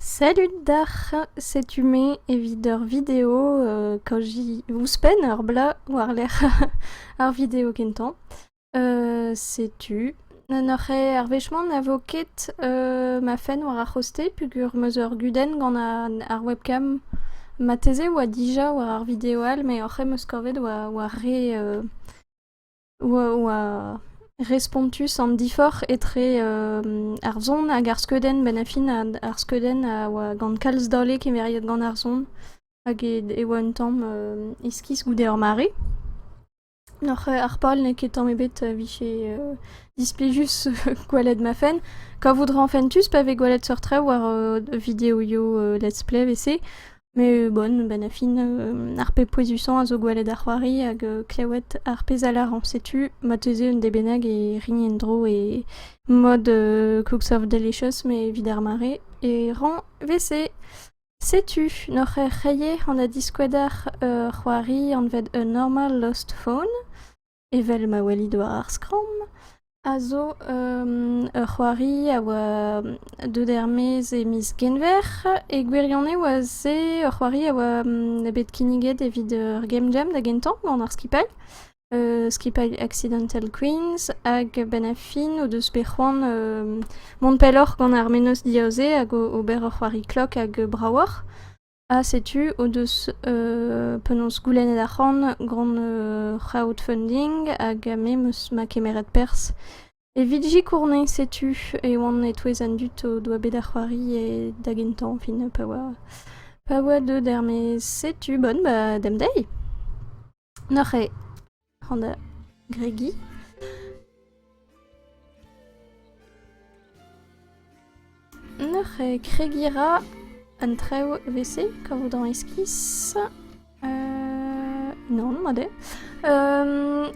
Salut d'ac'h, setu me evit ur video kaoz ouzhpenn ur bloaz war-lerc'h ar video kentañ. setu n'oc'h arvechman na vo ket ma fenn war ar c'hoste peogwir 'm eus ur gudenn gant ar webcam. Marteze 'oa dija war ar video all met oc'h em eus kavet war re oa respontus an diforc'h etre ar son hag ar skeudenn benn-ha-fin ar skeudenn a oa gant kalz dale kemeriet gant ar son hag e oa un tamm iskis goude ur mare. Oc'h harpal n'eo ket tamm ebet a vije displijus gwelet ma fenn. Kavout 'ra fentus pa vez gwelet seurt traoù war videoioù let's play 'vese. Mais bon, ben a fin, euh, ar pep pouezusañ a zo gweled ar c'hoari hag euh, klewed ar pezh a lâr añs. Setu marteze un dez bennak e rign en-dro e mod euh, Cooks of Delicious, mais evit ar mare. E rañ wese. Setu, n'oc'h er c'hreier an a diskoued ar euh, c'hoari anvet A Normal Lost Phone. Evel ma welit war ar skramm, a zo ur c'hoari a oa deut er-maez e miz Genver. E gwirionez a se ur c'hoari a oa bet kinniget evit ur game jam da gentañ gant ar skipailh, skipailh Accidental Queens, hag a-benn ar fin o deus bet c'hoant mont pelloc'h gant ar mennozh diaoze hag ober ur c'hoari klok hag bravoc'h. Ha setu o deus penaos goulennet arc'hant gant crowdfunding hag me 'meus ma kemeret perzh evit sikourne. Setu e oan e-touez an dud o doa bet ar c'hoari e da gentañ fin pa oa pa oa deuet er-maez. Setu bon ba demp dezhi! Neuze an gregiñ. Neuze kregiñ 'ra un traoù evese kavout an iskis. Nann, mat eo.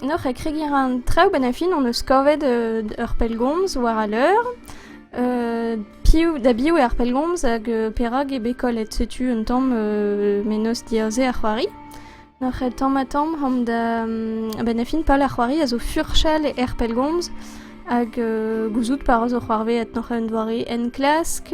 Neuze kregiñ 'ra an traoù 'benn ar fin hon eus kavet ur pellgomz war al leur. Piv da biv eo ar pellgomz hag perak eo bet kollet. Setu un tamm mennozh diaze ar c'hoari. Nac'h tamm-ha-tamm omp da... a-benn ar fin pal ar c'hoari a zo furchal er pellgomz hag gouzout pa ra zo c'hoarvezet nac'h un doare enklask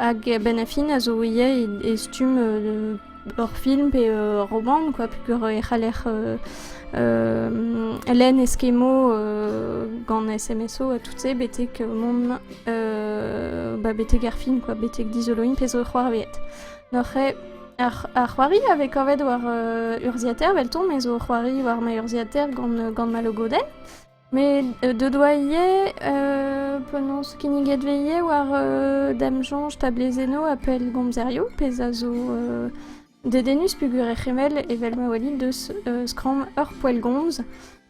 hag a-benn ar fin a zo ivez e stumm ur film pe ur romant quoi peogwir e c'haller lenn eskemo gant SMSO ha tout-se betek mont ba betek ar fin quoi betek dizoloiñ pezh zo c'hoarvezet nac'h eo Ar c'hoari a vez kavet war urzhiataer 'veltomp, me zo o c'hoari war ma urzhiataer gant ma logodenn. Met deut oa ivez penaos kinniget veze war damsoñj tablezennoù ha pellgomzerioù, pezh a zo dedennus peogwir e c'hemell evel ma welit deus skramm ur poellgomz.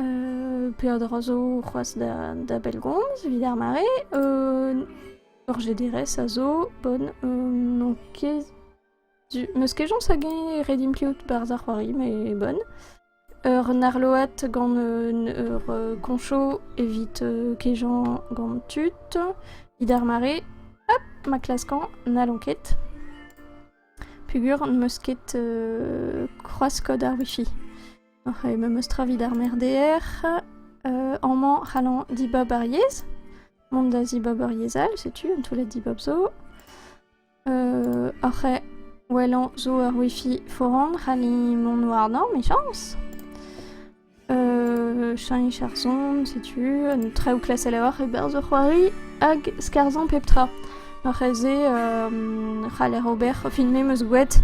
Euh, peadra zo c'hoaz da, da bellgomz, evit ar mare. Euh, ur GDRS a zo, bon, euh, n'on ket... Du... Meus kejons hag eñ redim kleout barz ar c'hoari, mais bon. Ur narloat gant ur euh, concho evit euh, kejañ gant tud. Evit ar mare, hop, ma klaskan, n'allon ket. Pugur, n'eus ket euh, croas-code ar wifi. Oc'h e memeus tra evit ar merdeer. Euh, amañ c'hallañ dibab ar yezh. Mont da zibab ur yezh all, setu un toullad dibab zo. Euh, oc'h e wellañ zo ur wifi foran, c'halli mont warnañ, mechañs. Euh, cheñch ar son, setu un traoù klasel a-walc'h e-berzh ur c'hoari, hag skarzhañ pep tra. Ar c'helz-se c'haller ober. Film me 'meus gouet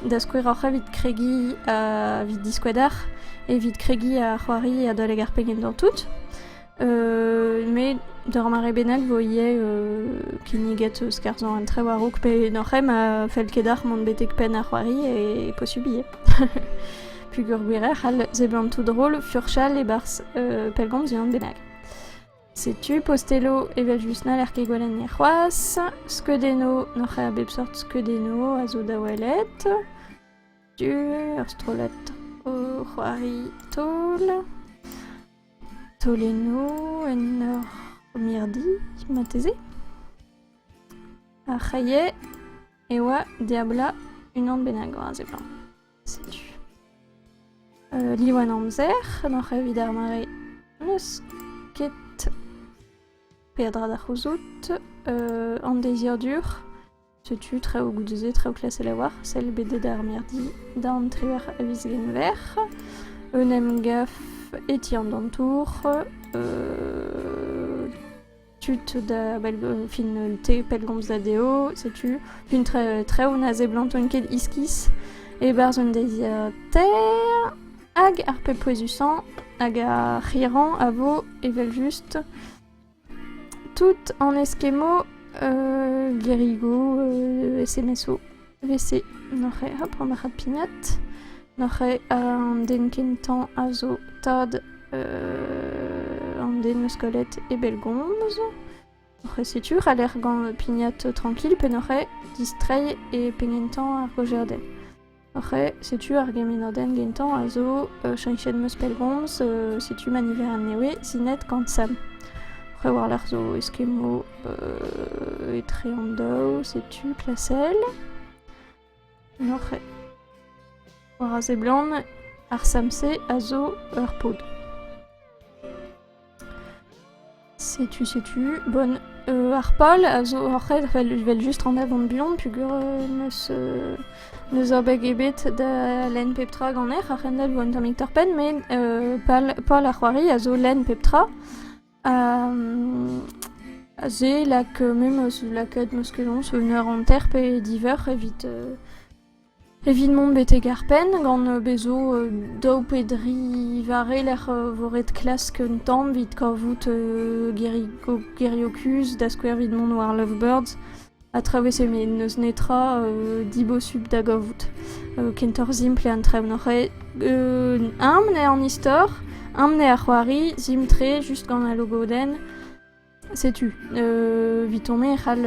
da skouer oc'h evit kregiñ evit diskouedar, evit kregiñ ha c'hoari adalek ar pegement tout. met d'ur mare bennak 'vo ivez kinniget skarzhañ un trev a-raok pe n'hor c'hemm a fell ket deoc'h mont betek penn ar c'hoari e posupl ivez. Peogwir gwir eo c'hall seblant tout drol furchal e-barzh pellgomz unan bennak. Setu postelloù evel-just n'haller ket gwelenn c'hoazh. Skeudennoù, n'oc'h ket a bep seurt skeudennoù a zo da welet. Ur strollad o c'hoari taol. Taolennoù en ur mirdi, marteze. Ar c'haillet e oa diablañ unan bennak war a seblant. Setu. Euh, Diwan amzer, n'oc'h evit ar mare n'eus ket peadra da c'houzout. Euh, an deiziadur, setu traoù goude-se, traoù klasel a oar, sell bedet ar mirdi da an trier a viz genver. Un emgaf etiant d'an tour. Euh, tud da fin te pellgomz da dezho setu fin traoù na seblantan ket iskis e-barzh un deiziataer hag ar pep pouezusañ hag ar c'hirrañ a vo evel-just tout an eskemmoù gerigoù SMS-o Evel-se n'oc'h ket ret ober pignat, n'oc'h ket an den kentañ a zo tad an den 'meus kollet e bellgomz. N'oc'h ket setu ret lec'h gant pignat trankil pe n'oc'h ket distreiñ e penn gentañ ar gojerdenn. N'oc'h ket setu ar gemenadenn gentañ a zo cheñchet 'meus pellgomz, setu ma niver anezhe sinet gant Sam. N'oc'h ket war-lerc'h zo eskemmoù euh, etre an daou, setu klasel. Noc'h war a seblant, ar samse a zo ur pod. Setu, setu. Bon, euh, ar pal a zo oc'hed, vel just en avant buan, pugur euh, neus euh, neus abeg ebet da len pep tra ganer, ar c'hendal vo un tammig torpen, mais euh, pal, pal a c'hoari a zo len pep tra. Aze lak memes lakaat meskajoñs un eur hanter pe diveur evit evit mont betek ar penn gant bezo daou pe dri vare lec'h vo ret klask un tamm evit kavout gerioù kuzh da skouer evit mont war lovebirds. a traouese met n'eus netra dibosupl da gavout. kentoc'h simpl eo an traoù n'oc'h ket. eñ eo an istor, eñ eo ar c'hoari, simpl-tre, just gant al logodenn. Setu, evitañ me e c'hall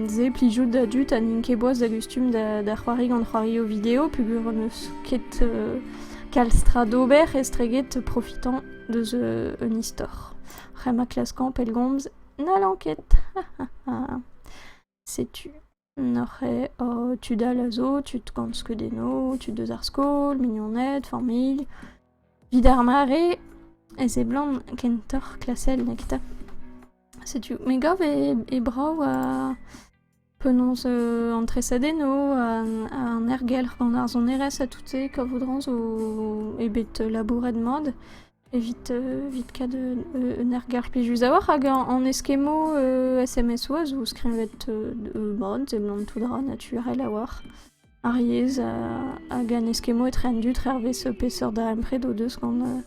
se plijout da dud ha n'int ket boas da gustum da c'hoari gant c'hoarioù video peogwir n'eus ket kalz tra d'ober estreget profitañ deus un istor. C'hwec'h ma klaskañ pellgomz N'hallan ket. Setu neuze tud all a zo, tud gant skeudennoù, tud eus ar skol, mignoned, familh. Evit ar mare e seblant kentoc'h klasel neketa. Setu, me gav eo brav penaos an tresadennoù, an ergelc'h gant ar sonerezh ha tout-se, kavout-rañ zo eo bet labouret mat evit evit kad un ergelc'h plijus a-walc'h hag an eskemmoù SMS oa zo skrivet bon, seblant tout dra naturel a-walc'h. Ar yezh hag an eskemmoù etre an dud hervez peseurt darempred o deus gant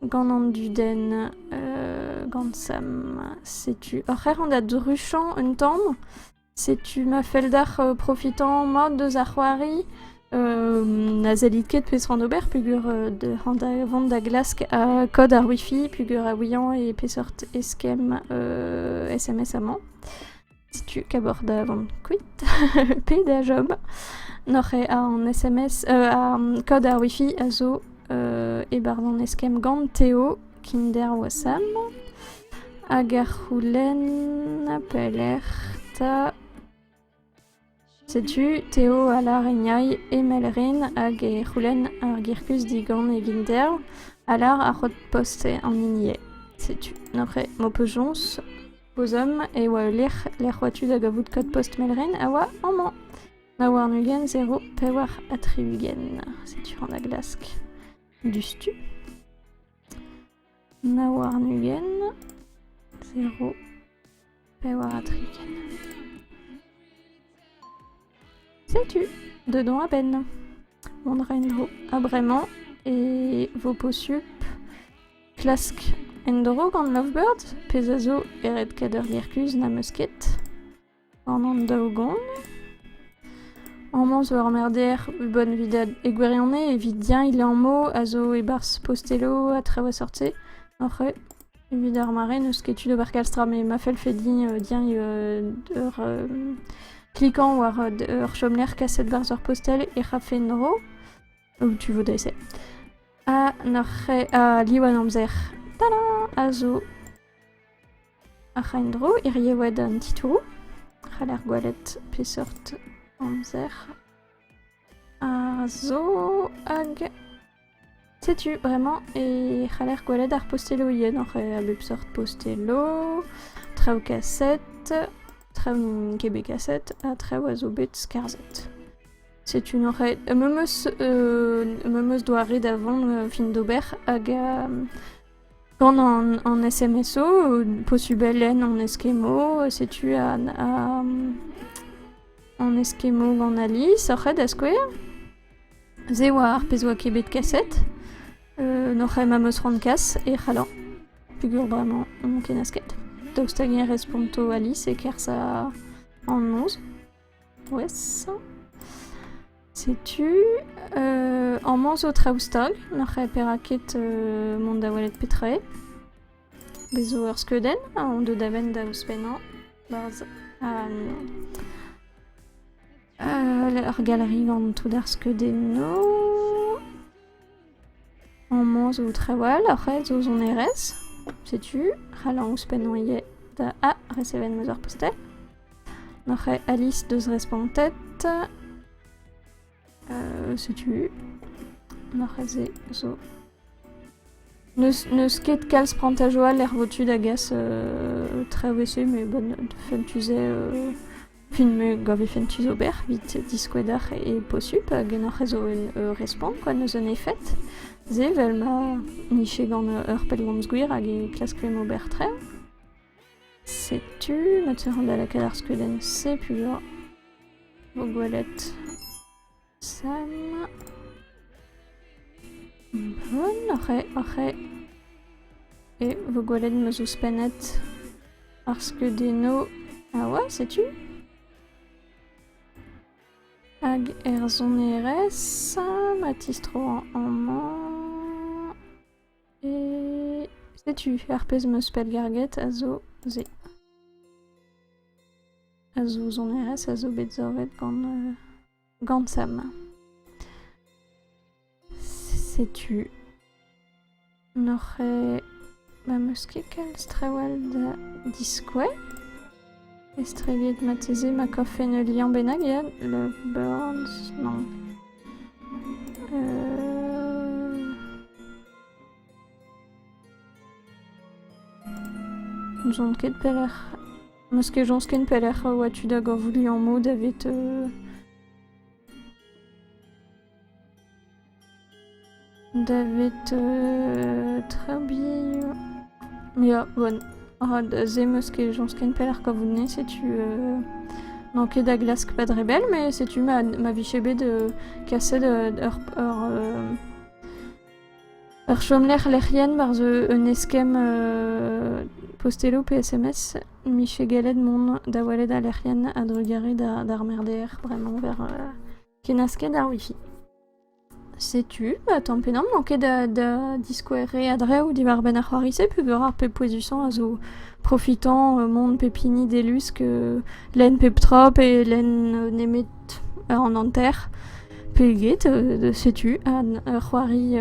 Gant an dudenn, euh, gant Sam, setu... Ur c'her da druchañ un tamm. Setu ma felldac'h euh, profitañ mat deus ar c'hoari. Euh, na sellit ket pezh c'hoant ober peger euh, vont da glask euh, kod ar wifi peger a ouiañ e peseurt eskemm SMS amañ. Setu kabourdadan kuit, pet a job N'oc'h ket an SMS, an kod ar wifi a zo e-barzh an eskemm gant Teo, kinder wasam. Hag ar c'houlenn pelec'h 'ta... Setu Teo a larignay emell ren hag e c'houlenn ar girkuz digant e vinder a lar ar c'hod-post an hinienn. Setu après m'ho peus Bozom e oa ul lec'h lec'h oa tud da gavout kod-post Melren a oa amañ. Nav warn-ugent zero pevar ha tri-ugent. Setu rann a glask. Diouzhtu. Nav warn-ugent, zero, pevar ha tri-ugent. Setu, dedans a-benn. Mont en-dro. Ha bremañ e vo posupl klask en-dro gant Lovebird, pezh a zo e red-kader Gerkuz n'am eus ket. An an daou-gant. Amañ zo ur merder e Bonvidad e gwirionez evit-eñ e liammoù a zo e-barzh posteloù ha traoù a-seurt-se oc'h evit ar mare n'eus ket tu d'ober kalz tra met ma fellfe din dieñ ur klikañ war ur chomlec'h kaset barzh ur postel ec'h afe en-dro ou tu vo dre-se. Ha nac'h ha liv an amzer. Tada! A zo. Ac'h a en-dro hirie oa d'an titouroù. C'haller gwelet peseurt amzer a zo hag setu bremañ e c'haller gwelet ar posteloù yenoc'h a bep seurt posteloù, traoù kaset, traoù kebekaset ha traoù a zo bet skarzhet. Setu noc'het ma 'm eus doare da vont fin d'ober hag Gant an SMS-o posubl eo an eskemmo. Setu an eskemmo gant Alice oc'h eo da skouer. Se oa ar pezh oa ket bet kaset. N'oc'h eo ma 'm eus c'hoant kas e c'hallañ. Peogwir bremañ n'on ket nasket. Daoust hag-eñ responto Alice e-kerzh an noz? Poesañ. Setu euh, amañ zo traoù stag. N'ac'h eo perak ket euh, mont da welet petra eo. Bez zo ur skeudenn, on deu da benn da ouzhpennañ. Barzh euh, ur galerie gant tout ar skeudennoù. Amañ zo trawalc'h zo sonerezh, setu c'hall ouzhpennañ ivez da A resevet 'm eus ar postel. N'oc'h ket Alice deus respontet, setu n'oc'h ket se zo. N'eus ket kalz prantajoù all er votu da gas traoù e-se, met bon, fin tu se. Film govifen tu d'ober evit diskouez deoc'h e posupl ganeoc'h a zo un respont kwa n'eus un efed. Se vel ma nije gant ur pellgomz gwir hag e klaskfemp ober tre. Setu ma teuc'h da lakaat ar skeudenn-se puilh 'oa. Vo gwelet. Samm... oc'h eo vo gwelet ma 'z eus pennad ar skeudennoù a oa, setu. Hag er sonerezh ma tistro amañ e... setu ar pezh ma eus pellgarget a zo se. A zo sonerezh a zo bet savet gant... Gansem. Setu n'oc'h me'm eus ket kalz trawal da diskouez. Estreget marteze ma kavfen ul liamm bennak ya, Lovebirds, non. N'ouzon ket pelec'h Meus ket soñj ken pelec'h oa tu da gavout liammoù davit... davit Treby... Ya, bon. Ha da se meus ket soñj ken pelec'h kavout-ni, setu... n'on ket da glask pad re bell, mais setu ma, ma vije bet kaset ur... ur... Ur chomlec'h lec'hienn war zo un eskemm posteloù pe SMS 'mije gallet mont da welet al lec'hienn a-drugarez d'ar merdeer bremañ war kennasket ar wifi. Setu, tamm pe damm, n'on ket da diskoueriñ a-dreñv diwar-benn ar c'hoari-se peogwir ar pep pouezusañ a zo profitañ mont pep hini d'e lusk lenn pep tra pe lenn nemet an hanter. Peget setu an ur c'hoari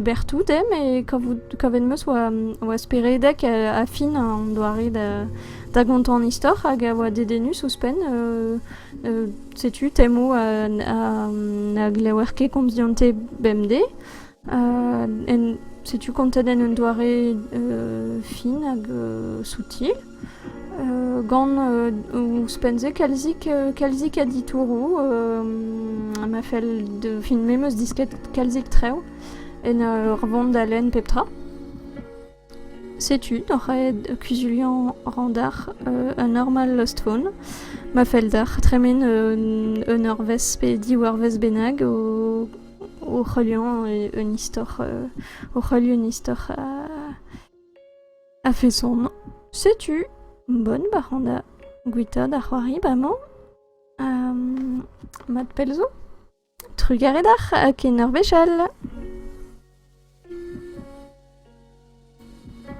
berr-toudem e kavout kavet 'm eus oa speredek ha fin an doare da gontañ an istor hag a oa dedennus ouzhpenn. Setu temoù na glever ket komz dionte bemdez. Setu kontet en un doare fin hag soutil. gant ouzhpenn-se kalzik kalzik a ditouroù ma fell de fin me 'm eus disket kalzik trev en ur vont da lenn pep tra. Setu oc'h aet kuzuliañ randar un normal Lost Phone ma fell deoc'h tremen un eurvezh pe div eurvezh bennak o c'heuliañ un istor o c'heuliañ un istor A-feson, setu bonn bac'handa gwitaat ar c'hoari bremañ. Um, mat pell zo. Trugarez d'ac'h ha ken ur wech all.